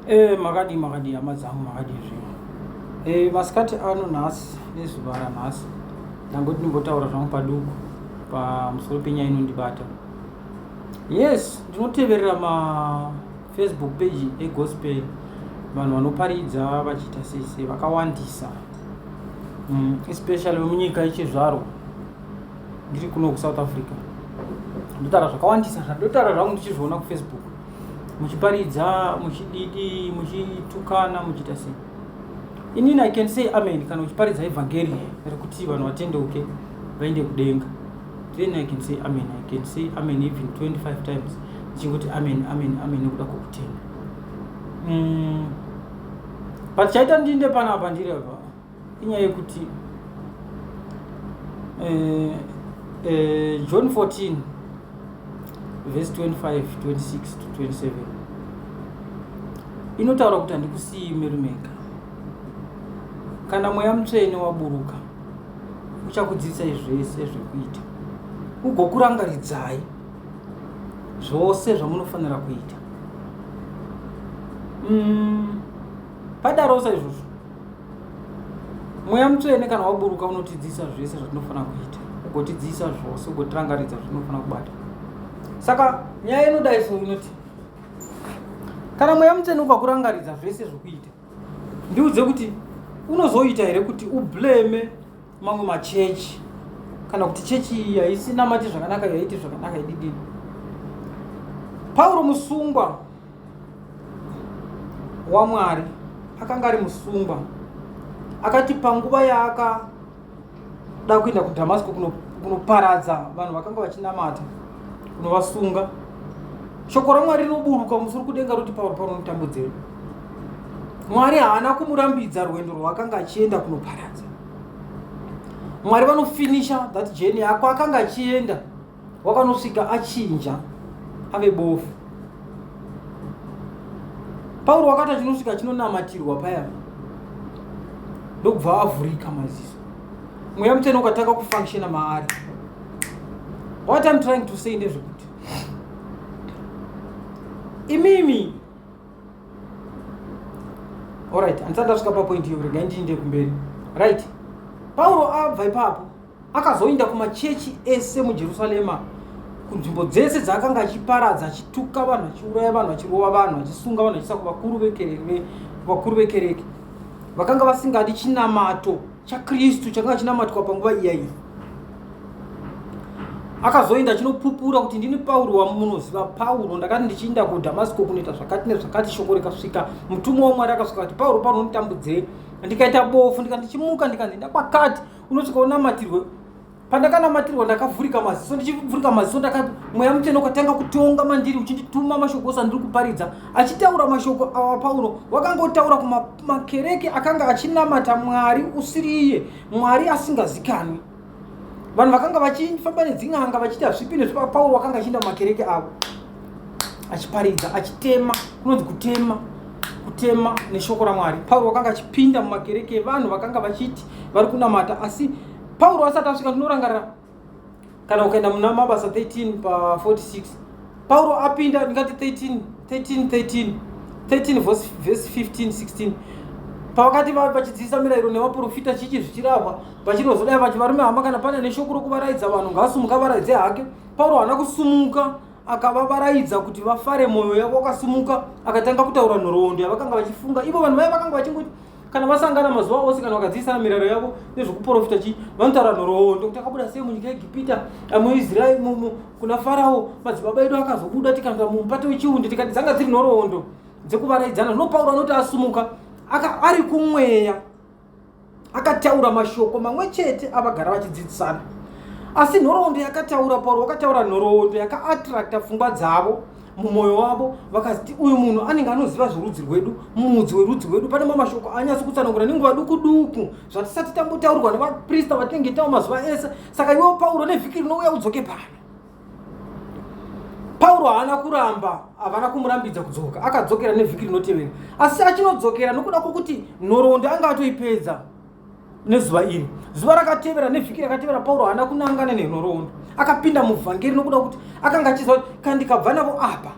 Eh, makadii makadii hama dzangu makadii zvinhu eh, masikati ano nhasi nezuva ranhasi ndangoti ndimbotaura zvangu paduku pamusoro penyaya inondibata yes ndinoteverera mafacebook page egospel vanhu vanoparidza vachiita sese vakawandisa mm, especially vemunyika yechizvarwa ndiri kuno kusouth africa ndotaura zvakawandisa zvandotaura zvangu ndichizviona kufacebook muchiparidza muchididi muchitukana muchiita sei inini i can say amen kana uchiparidza evhangeri rekuti vanhu vatendeuke vaende kudenga then i can say amen i can say amen even 25 times ndichingoti amen amen amen nekuda kwokutenda mm. but chaita ndinde panapa ndiri apa inyaya yekuti eh, eh, john 14 vhesi 25 26 to 27 inotaura kuti handikusiyi merumeka kana mweya mutsvene waburuka uchakudzidzisai zvese zvekuita ugokurangaridzai zvose zvamunofanira kuita mm, padarosa izvozvo mweya mutsvene kana waburuka unotidzidzisa zvese zvatinofanira kuita ugotidzidzisa zvose ugotirangaridza zvatinofanira kubata saka nyaya inodai so inoti kana mweya mutsvene ukakurangaridza zvese zvokuita ndiudze kuti unozoita here kuti ublame mamwe machechi kana kuti chechi iyi haisi namati zvakanaka yaiti zvakanaka ididini pauro musungwa wamwari akanga ari musungwa akati panguva yaakada kuenda kudhamasiko kunoparadza kuno vanhu vakanga vachinamata kunovasunga shoko ramwari rinoburuka musoro kudenga roti pauro pauro notambudzei mwari haana kumurambidza rwendo rwaakanga achienda kunoparadza mwari vanofinisha that jeni yako akanga achienda wakanosvika achinja ave bofu pauro wakati achinosvika chinonamatirwa paya ndokubva avhurika maziso mweya mutene ukatanga kufunctiona maari what im trying to say ndezvekuti imimi Alright, handisati ndasvika papoint iyo regai ndiinde kumberi. Right. Pauro abva ipapo akazoinda kumachechi ese muJerusalema kunzvimbo dzese dzaakanga achiparadza achituka vanhu achiuraya vanhu achirova vanhu achisunga vanhu achiisa kuvakuru vekereke vakanga vasingadi chinamato chaKristu chakanga chinamatwa panguva iyayi. Akazoenda chinopupura kuti ndini Pauro wamunoziva, Pauro ndakati ndichiinda kuDhamasko kunoita zvakati nezvakati, shoko rikasvika. Mutumwa waMwari akasvika kuti Pauro pano nditambudzei? Ndikaita bofu ndikati ndichimuka ndikati enda kwakati unosvika unamatirwe pandakanamatirwa ndakavhurika maziso ndichivhurika maziso ndaka mweya mutsvene ukatanga kutonga mandiri uchindituma mashoko ose andiri kuparidza achitaura mashoko awa pauro wakanga otaura kumakereke akanga achinamata mwari usiri iye mwari asingazikanwi vanhu vakanga vachifamba nedzin'anga vachiti hazvipi nezvo pauro wakanga achiinda mumakereke avo achiparidza achitema kunonzi kutema kutema neshoko ramwari pauro wakanga achipinda mumakereke evanhu vakanga vachiti vari kunamata asi Pauro asati asvika tinorangarira kana ukaenda muna mabasa 13 pa 46 pauro apinda ndingati 13 13 13 13 verse, verse 15 16 pavakati vave vachidzidzisa mirayiro nevaprofita chichi zvichirahwa vachinozodai vachi varume hama kana pane neshoko rokuvaraidza vanhu ngaasumuka varaidze hake pauro haana kusumuka akavavaraidza kuti vafare mwoyo yavo wakasumuka akatanga kutaura nhoroondo yavakanga vachifunga ivo vanhu vaya vakanga vachingoti kana vasangana mazuva ose kana vakadziisana mirayiro yavo nezvekuprofita chii vanotaura nhoroondo kuti akabuda sei munyika yegipita muisraeri mumu kuna farawo madzibaba edu akazobuda tikanga mumupata wechiundi tikati dzanga dziri nhoroondo dzekuvaraidzana zvino pauro anoti asumuka ari kumweya akataura mashoko mamwe chete avagara vachidzidzisana asi nhoroondo yakataura pauro wakataura nhoroondo yakaattracta pfungwa dzavo mumwoyo wavo vakaziti uyu munhu anenge anoziva zvorudzi rwedu muudzi werudzi rwedu pane mamashoko anyasi kutsanangura nenguva duku duku zvatisati tambotaurwa nevaprista vatinenge tawo mazuva ese saka iwewo pauro nevhiki rinouya udzoke pano pauro haana kuramba havana kumurambidza kudzoka akadzokera nevhiki rinotevera asi achinodzokera nokuda kwokuti nhoroondo anga atoipedza nezuva iri zuva rakatevera nevhiki rakatevera pauro haana kunangana nenhoroondo akapinda muvhangeri nokuda kuti akanga achiziva kuti kana ndikabva navo apa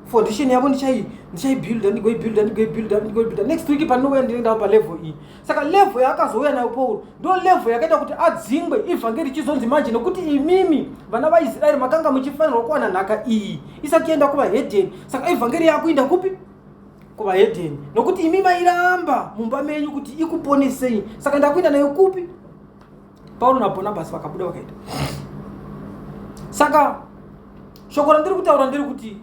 foundation yavo ndichai ndichaibuilda ndigoibuilda ndigoibuilda ndigoibuilda next week pandinouya ndinoendawo palevel iyi saka level yaakazouya nayo pauro ndo level yakaita kuti adzingwe ivhangeri ichizonzi manje nokuti imimi vana vaisraeri makanga muchifanirwa kuwana nhaka iyi isati yaenda kuvahedheni saka ivhangeri yaakuinda kupi kuvahedheni nokuti imi mairamba mumba menyu kuti ikuponesei saka ndakuenda nayo kupi paulo nabhonabhasi vakabuda vakaita saka shoko randiri kutaura ndiri kuti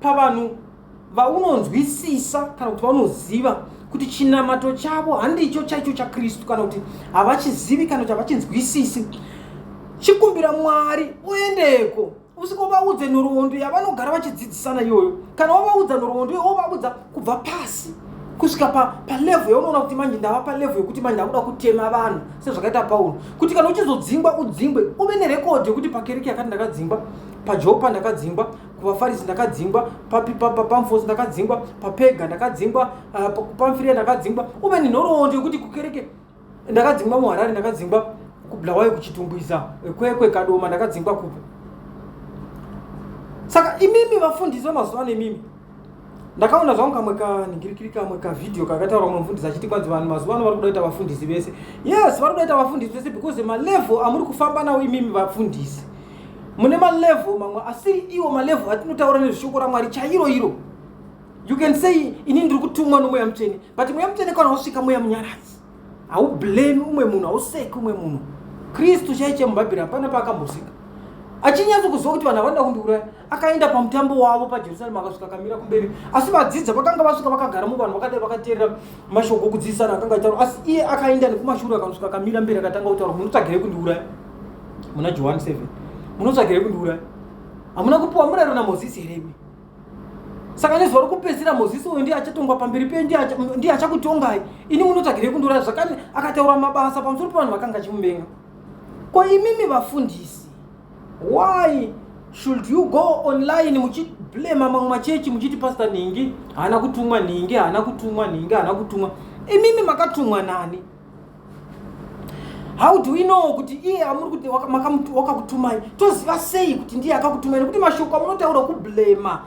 pavanhu vaunonzwisisa kana kuti vaunoziva kuti chinamato chavo handicho chaicho chakristu kana kuti havachizivi kana kuti havachinzwisisi chikumbira mwari uendeko usikovaudze nhoroondo yavanogara vachidzidzisana iyoyo kana wavaudza nhoroondo iyo wovaudza kubva pasi kusvika palevho pa yaunoona kuti manje ndava palevho yekuti manje ndakuda kutema vanhu sezvakaita paulo kuti kana uchizodzingwa udzingwe uve nerekodhi yekuti pakereke yakati ndakadzingwa pajopa ndakadzingwa kuvafarisi ndakadzingwa pamfosi ndakadzingwa papega ndakadzingwa ah, pamfiria ndakadzingwa uve nenhoroondo yekuti kukereke ndakadzingwa muharare ndakadzingwa kubulawayo kuchitumbwiza kwekwe kadoma ndakadzingwa kupi saka imimi vafundisi vemazuva ano imimi ndakaona zvangu kamwe kaningirikiri kamwe kavhidhiyo kakataura mumwe mufundisi achiti kwanzi vanhu mazuva ano vari kuda kuita vafundisi vese yes vari kuda kuita vafundisi vese because malevel amuri kufamba nawo imimi vafundisi mune malevel mamwe asiri iwo malevel atinotaura nezveshoko ramwari chairo iro You can say ini ndiri kutumwa nomweya mutsvene but mweya mutsvene kana usvika mweya munyaradzi haublame umwe munhu hauseki umwe munhu kristu chaiche mubhabhiri hapana paakambosika achinyatso kuziva kuti vanhu havanoda kundiuraya akaenda pamutambo wavo pajerusarema akasvika akamira kumberi asi vadzidza vakanga vasvika vakagara muvanhu vakadai vakateerera mashoko okudzidzisana akanga aitaura asi iye akaenda nekumashuru akanosvika akamira mberi akatanga kutaura munotsvagirei kundiuraya muna johani 7 munotsvagirei kundiuraya hamuna kupiwa murayiro namozisi here imi saka nezuva rokupedzisira mozisi uyu ndiye achatongwa pamberi pe ndiye achakutongai ini munotsvagirei kundura zvakani akataura mabasa pamusoro pevanhu vakanga achimuvenga ko imimi vafundisi why should you go online muchiblema mamwe machechi muchiti pasta nhingi haana kutumwa nhingi haana kutumwa nhingi haana kutumwa imimi makatumwa nani how do we know kuti iye amuri kuti wakakutumai toziva sei kuti ndiye akakutumai nekuti mashoko amunotaura kublema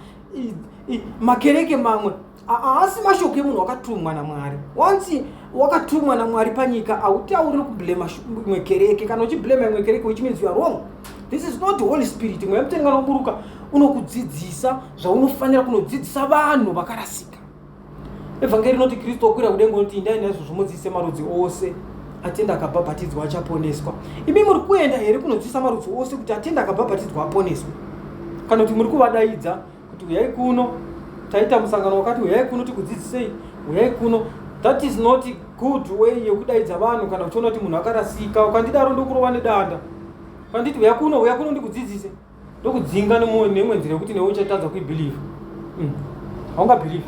makereke mamwe haasi mashoko emunhu wakatumwa namwari once wakatumwa namwari panyika hautauriri kublema imwe kereke kana uchiblema imwe kereke which means youare wrong this is not holy spirit mweya mutenga unoburuka unokudzidzisa zvaunofanira kunodzidzisa vanhu vakarasika evhangeri rinoti kristu okwira kudengo noti indai naizvo zvomudzise marudzi ose atenda akabhabhatidzwa achaponeswa imi muri kuenda here kunodzisa marudzi ose kuti atenda akabhabhatidzwa aponeswe kana kuti muri kuvadaidza kuti uyai kuno taita musangano wakati uyai kuno tikudzidzisei uyai kuno that is not good way yekudaidza vanhu kana uchiona kuti munhu akarasika ukandidaro ndokurova nedanda ukanditi uya kuno uya kuno ndikudzidzise ndokudzinga nemwe nzira yekuti newe uchatadza kuibelieve mm. haungabelieve